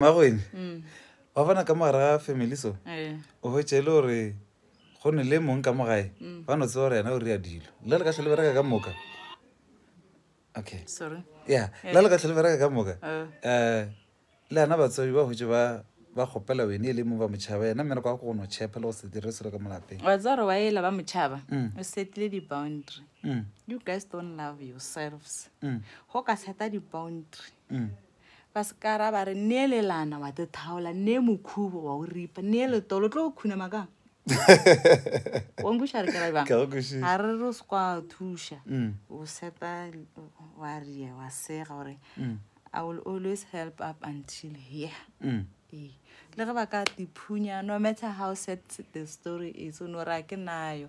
magwene mm. wa bona ka mogare ga family so eh. o hwetše e le gore go ne le mong ka mo gae mm. ba no tseba gore yena o rea dilo le le ka tlhole bereka ka moka okay sorry yeah eh. le le ka tlhole bereka ka moka um le ana batswadi ba hwetše ba ba kgopela wene e le mong ba motšhaba yena mmere kwa go no chepa le go se dire selo ka molapeng wa tsare wa ela ba motšhaba mm. o setile di-boundary mm. you guys don't love yourselves go ka seta di-boundary Ba sekara ba re nee lelana wa te thaola, nee mokhubo wa o ripa, nee letolo tlo go khunama ka. Wa nkwiša re kera bang? Ka go kwišiša. A re re o se kwa thuša. O seta wa ria wa sega gore I will always help up until here. Ee. Le ge ba ka tiphunya no matter how sad the story is o no ra ke nayo.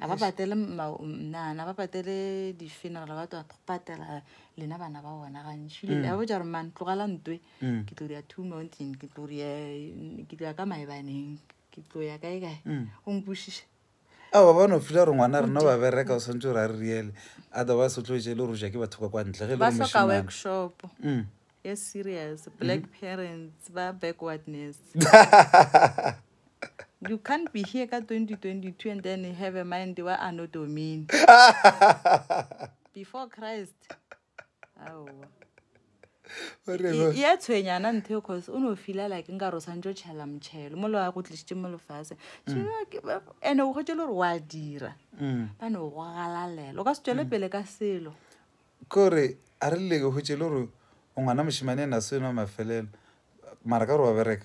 a ba patele mnana ba patele di-funeral ba twa patela lena bana ba bona gantši mm. a botša gore man tlogela ntwe mm. ke tlo ria two mountain ke tlo ria ke tlo ya ka maebaneng ke tlo ya kae kae mm. o nkwešiša a ba bano fila gore ngwana rena ba bereka o tshwanetse gore a re riele otherwise o tlo etse e le gore o ja ke batho ka kwa ntle ge e ba soka workshop e serious black parents ba backwardness You can't be here ka 2022 and then have a mind wa Anno Domini. Before Christ. Aowa. O re go- E- e a tshwenyana ntho eo cause o ne o fila like nka re o swantse o tšhela motšhelo mo le wa go tlisitse mo lefase and-e o gotse le gore wa dira Mm. ba ne o go galalela o ka se tswele pele ka selo ko re a re leke gotse le gore o ngwana mošemane ena se nwa mafelelo mara ka gore wa bereka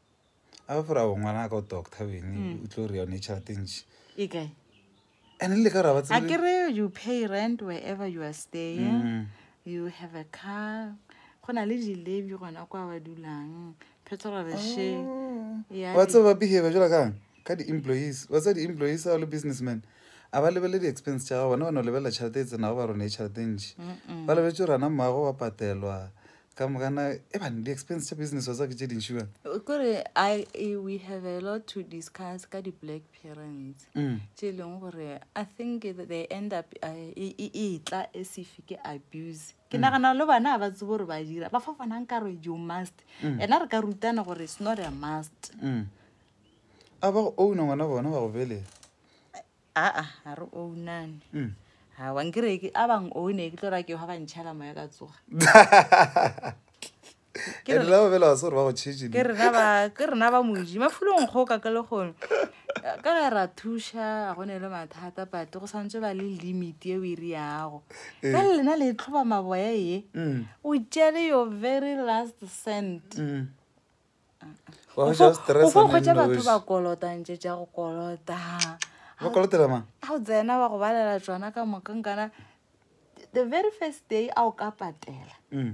a ba fora ngwana ka o doctor bene hmm. o tlo re yone tšhelete ntši e kae and le ka ra ba tsebe akere you pay rent wherever you are staying mm. you have a car go na le dilebi gona kwa ba dulang petrolreshe oh. wa tseba ba behavior jela kang ka di-employees wa tseba di-employees a le businessman a ba lebele di-expense tša ga bona ba no lebelela tšhelete e tsenago ba rone e tšhelete ntši ba lebetse rana mmago wa patelwa ka mogana e bane di-expense tša business wa tsa ke tše dintši bane eh, kore e, we have a lot to discuss ka di-black parents mm. tše e leng gore i think they end up eh, e, e, e tla e sefe ke abuse ke mm. nagana le bana ga ba tsebo gore ba dira ba fa fanang ka re you must mm. ena re ka rutana gore it's not a must a ba go owna ngwana bona ba go belela aa ga re ownane mm. ga wa nkere ke a bang owne ke tlo ra ke ga ba ntšhala moya ka tsoga ke rena ba moji mafulong go ka ke le gone ka ge ra thuša a gone le mathata but go santse ba le limit e o e re yago eh. ka le lena le tlhoba maboya ye mm. o tšele your very last cent mm. wa go ja stress go kgwetsa batho ba kolota ntse ja go kolota ba kolotela mang a o tsena ba go balela tsona ka moka nkana the very first day a o ka patela mm.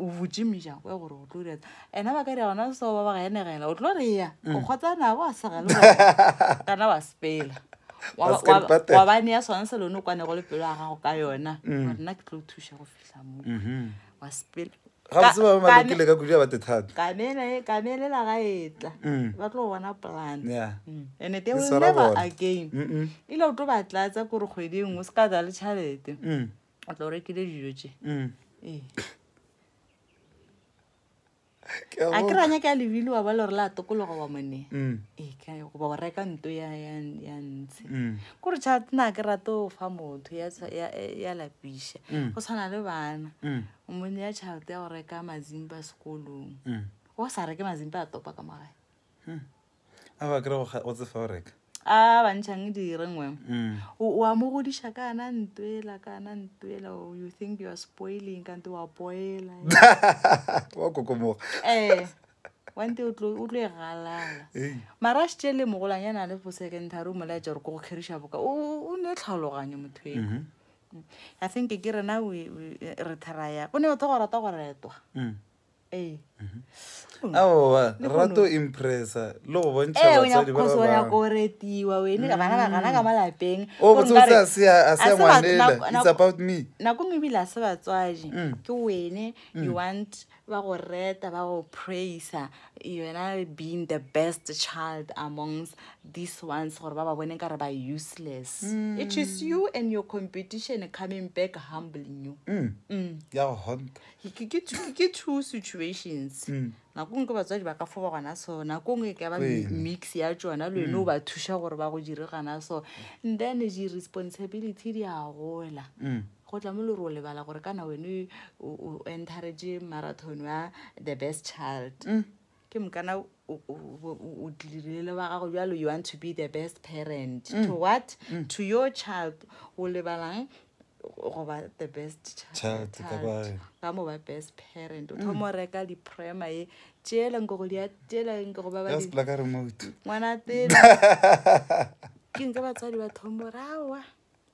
o botse mejang kwa gore o tlo dira ena ba ka dira gona seo ba ba ga enegela o tlo re ya mm. o kgotsana ba sega le kana wa sepela wa bane ya sone se lone o kwane go le pelo ya gago ka yona mm. gore nna ke tlo thuša go kamelela ga etla mm. ba tlo bona plan mm. and they will never again ile o tlo ba tlatsa kore kgwedi nngwe se ka tsa le tšhalete mm. o tlo rekile dijo tse ee a ke ranya ka lebile wa ba le gore la tokologa wa mone mm. ee kae goba wa reka nto ya ntshe mm. kore chat na ke rate o fa motho ya lapiša mm. go tshwana le bana o mone ya tšhalete ya go reka mazimba sekolong wa sa reke mazimba a topa ka magae a ba kry go tsefa o reka a bantšhang dire ngwe mm. o a mo godiša ka ana ntwela ka ana ntwela oh, you think you are spoiling kante wa poela wa kokomoga ee eh, wante o tlo e galala mara a šitše le mogolanyana a le fo secondary o molaetša gore ko go kgeriša boka o ne tlhaloganye motho eo mm-hmm. mm. i think ke rena re theraya o ne o tho go rata go retwa mm. ee aowa rato impressa le go bontšha ee o batsadi ba nyakoso o nyako bangwe retiwa wene ka bana ba gana ka mo lapeng o Gore botsotse nkare- a se a- a se a se ba- ngwanela nako- it's nako- about me nako ngwe ebile a se batswadi Mm. ke wene you want ba go reta ba go praisa yona being the best child amongst these ones gore ba ba bone ka re ba useless Mm. it is you and your competition coming back humbling you Mm, mm. ya go honta Ke- ke two- ke two situations Mm. nako ngwe ke batswadi ba ka fo ba gona so nako ngwe e ka ba mi- Ee. mix ya tsona le wene o ba thuša gore ba go dire gana so and then di-responsibility di a gola Mm. go tla mo le gore o lebala gore kana wene o o encourage marathon wa the best child Mm. ke mokana o tlilile le ba gago bjalo you want to be the best parent mm. to what mm. to your child o lebalang goba the best child ka mo ba best parent o thomo mm. reka diprima e tšeeleng ko go dia tšeeleng ke go ba ba ngwana tele ke nke batswadi ba thomo rawa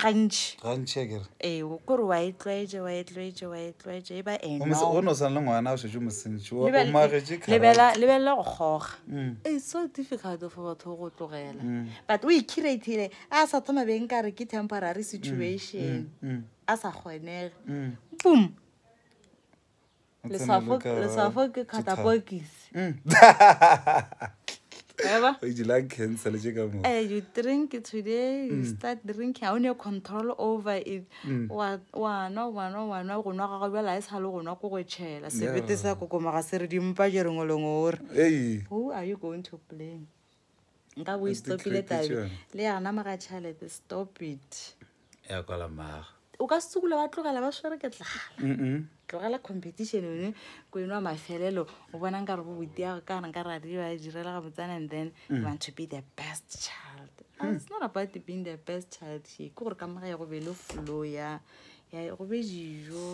gantši gantši a kere ee o kore wa e tlwaetše wa e tlwaetše wa e tlwaetše e ba eno gomme se- go no swana le ngwana o šetše mosentši o Lebel- magetše karate. lebela lebelela go kgoga Mm. it's so difficult for batho go tlogela Mm. but o ikhireithile a sa thoma beng ka re ke temporary situation Mm, a sa kgonege mm. boom leswafo leswafo ke catapokisi Eba? o itse lung cancer le tše ka mo Eh, you drink it today, you start drinking. Ha o ne control over it. Wa wa nwa wa nwa wa nwa go nwa ga gago bjale ha e sa le go nwa ko go tšhela. Sebete sa kokomaga se re dimpa je rengwe lengwe o re. ei Who are you going to blame? nka bo e stopile tabe le yana moga tšhalete stop it ya kwala maga o ka sekula ba tlogela ba swere ke tlala tlogela competition one ko enwa mafelelo o bona nka re go botiago ka re nka re adio a direla ga botsana and then you want to be the best child it's not about being the best child here ke gore ka moga ya go be le flow ya ya go be dijo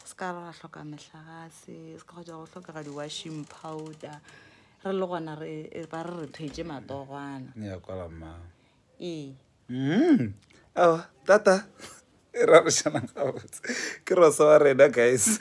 se ka re ra tlhoka metlhagase se ka go ja go tlhokega di-washing powder re le gona re e ba re re thwetše matogwana ne ya kwala mma ee Mm. Awa, tata e rarišanang gabotse ke rosa wa rena guys